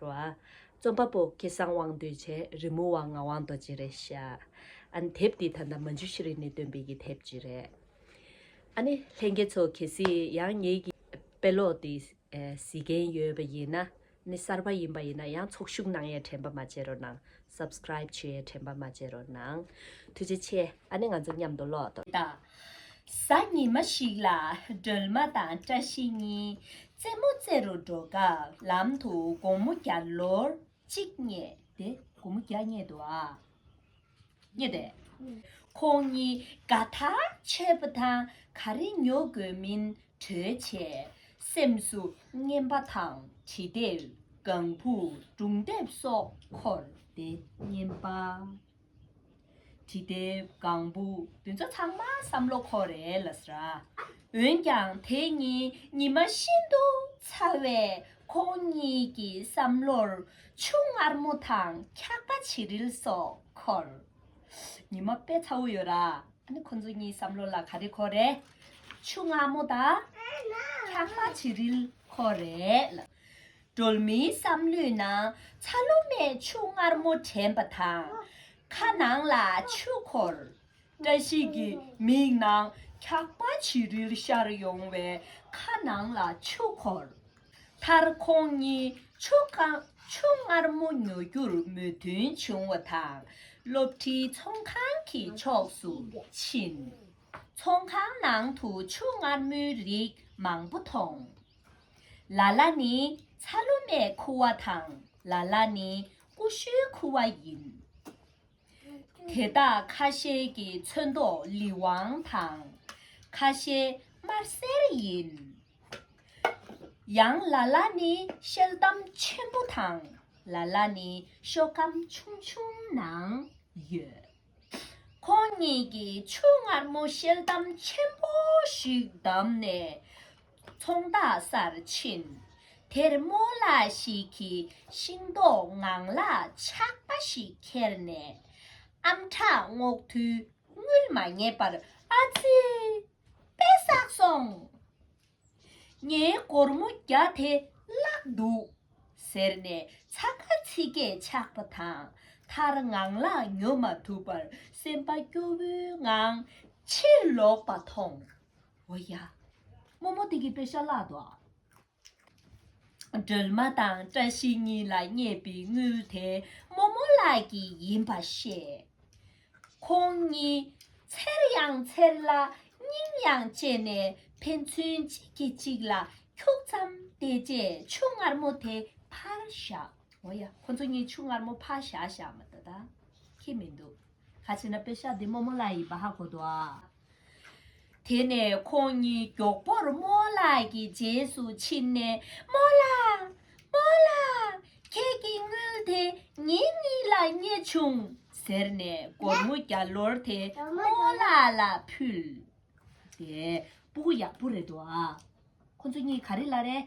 རོ། རྩོམ་པ་པོ་སྐལ་བཟང་དབང་འདུས་བཅས་རི་མོ་བ་ངག་དབང་རྡོ་རྗེ་རེད་བཤད། ཨ་ནི་དེབ་འདི་ད་ལྟ་མ་འཇུ་ཤི་རི་ནས་བཏོན་པའི་ཡི་དེབ་ཅིག་རེད། ཨ་ནི་ལྷན་རྒྱས་ཚོ་གལ་སྲིད་ཡང་ངེད་ཀྱི་དཔེ་ཀློག་འདི་གཟིགས་མཁན་ཡོད་པ་ཡིན་ན་ནི་གསར་པ་ཡིན་པ་ཡིན་ན་ཡང་ཚོགས་ཞུགས་གནང་ཡས་དྲན་པ་མ་བྱེད་རོགས་གནང Subscribe བྱེད་ཡས་དྲན་པ་མ་བྱེད་རོགས་གནང་ཐུགས་རྗེ་ཆེ་ཨ་ནི་ང་ཚོ་མཉམ་དུ་ཀློག་དང། གཟའ་ཉི་མ་ཞིག་ལ་སྒྲོལ་མ་དང་བཀྲ་ཤིས་གཉིས་རྩེད་མོ་རྩེ་རུ་འགྲོ་སྐབས་ལམ་དུ་དགོང་མོ་བརྒྱ་ལོར་གཅིག་རྙེད་དེ། དགོང་མོ་བརྒྱ་རྙེད་དོ་ཨ། རྙེད་དེ། ཁོང་གཉིས་དགའ་ཐག་ཆོད་པ་དང་ག་རེ་ཉོ་དགོས་མིན་གྲོས་བྱས། སེམས་སུ་རྔན་པ་དང་གྲི་ལྡེབས་སྒང་བུ་སྒྲུང་ལྡེབས་སོགས་འཁོར་ཏེ་རྙེད་པ། བྲིས་དེབ་གང་བུ་བདུན་ཚོ་ཚང་མ་བསམ་བློ་ཁོ་རེ་ལ་ཟ། འོན་ཀྱང་དེ་གཉིས་ཉི་མ་ཤིན་ཏུ་ཚ་བས་ཁོང་གཉིས་ཀྱི་བསམ་བློར་ཆུ་མངར་མོ་དང་འཁྱག་པ་བྱི་རིལ་སོགས་འཁོར། ཉི་མ་དཔེ་ཚ་བོ་ཡོད་ར་ཨ་ནི་ཁོང་ཚོ་གཉིས་བསམ་བློ་ལ་ག་རེ་འཁོར་རེད། ཆུ་མངར་མོ་དང་འཁྱག་པ་བྱི་རིལ་འཁོར་རེད་ལ། སྒྲོལ་མའི་བསམ་བློའི་ནང་ཚ་ལོ་རྨས་ཕྱུགས་མངར་མོ་དྲན་པ་དང། ཁ་ནང་ལ་ཆུ་འཁོར། བཀྲ་ཤིས་ཀྱི་མིག་ནང་འཁྱག་པ་བྱི་རིལ་ཤར་ཡོང་བས་ཁ་ནང་ལ་ཆུ་འཁོར། མཐར་ཁོང་གཉིས་ཕྱུགས་མངར་མོ་ཉོ་རྒྱུར་མོས་མཐུན་བྱུང་བ་དང་སློབ་ཁྲིའི་ཚོང་ཁང་གི་ཕྱོགས་སུ་ཕྱིན། ཚོང་ཁང་ནང་དུ་ཕྱུགས་མངར་མོའི་རིགས་མང་པོ་མཐོང། ལ་ལ་ནི་ཚ་ལུ་མའི་ཁུ་བ་དང་ལ་ལ་ནི་ཀུ་ཤུའི་ཁུ་བ་ཡིན། དེ་དག་ཁ་ཤས་ཀྱི་ཚོན་མདོག་ལི་ཝང་དང་ཁ་ཤས་དམར་སེར་ཡིན། ཡང་ལ་ལ་ནི་ཤེལ་གཏམ་ཆེན་པོ་དང་ལ་ལ་ནི་ཤོ་གམ་ཆུང་ཆུང་ནང་ཡོད། ཁོང་གཉིས་ཀྱིས་ཆུ་མངར་མོ་ཤེལ་དམ་ཆེན་པོ་ཞིག་བདམས་ནས་ཚོང་རྟགས་སར་ཕྱིན། དེར་རྨོ་ལགས་ཤིག་གིས་ཤིང་ཏོག་ངང་ལག་ཆགས་པ་ཞིག་ཁྱེར་ནས་ཨམ་ཕྲག་སྔོག་དུས་དངུལ་མ་རྙེད་པར་ཨ་ཙི། དཔེ་བསགས་སོང། ངའི་སྒོར་མོ་བརྒྱ་དེ་བརླག་འདུག་ཟེར་ནས་ཚ་ཁ་ཚིག་སྐད་ཆགས་པ་དང་མཐར་ངང་ལག་ཉོ་མ་ཐུབ་པར་སེམས་པ་སྐྱོ་བོའི་ངང་ཕྱིར་ལོག་པ་མཐོང། འོ་ཡ། རྨོ་མོ་དེ་གི་པེ་ཤ་བརླག་འདུག་ཨ། སྒྲོལ་མ་དང་བཀྲ་ཤིས་གཉིས་ལ་བསྙད་པའི་དངུལ་དེ་རྨོ་མོ་ལགས་ཀྱི་ཡིན་པ་ཤེས། ཁོང་གཉིས་འཚེར་ཡང་འཚེར་ལ་སྙིང་ཡང་གཅེས་ནས་ཕན་ཚུན་གཅིག་གིས་གཅིག་ལ་འཁྱུག་ཙམ་བལྟས་རྗེས་ཆུ་མངར་མོ་དེ་ཕར་བཞག་འོ་ཡ་ཁོ་ཚོ་གཉིས་ཆུ་མངར་མོ་ཕར་བཞག་བཞག་མ་ད་ད་ཁེ་མི་འདུག་ཁ་ཆེ་ན་པེ་ཤ་འདི་རྨོ་མོ་ལ་ཡི་བ་ཧ་གོ་འདུག་ཨ། དེ་ནས་ཁོང་གཉིས་མགྱོགས་པོར་རྨོ་ལགས་ཀྱི་རྗེས་སུ་ཕྱིན་ནས་རྨོ་ལགས། རྨོ་ལགས། ཁྱེད་ཀྱི་དངུལ་དེ་ངེད་གཉིས་ལ་རྙེད་བྱུང། ཟེར་ནས་སྒོར་མོ་བརྒྱ་ལོར་དེ་རྨོ་ལགས་ལ་ཕུལ། དེ་སྤུ་གུ་ཡག་པོ་རེད་འདུག་ཨ། ཁོང་ཚོ་གཉིས་ག་རེ་ལ་རེད།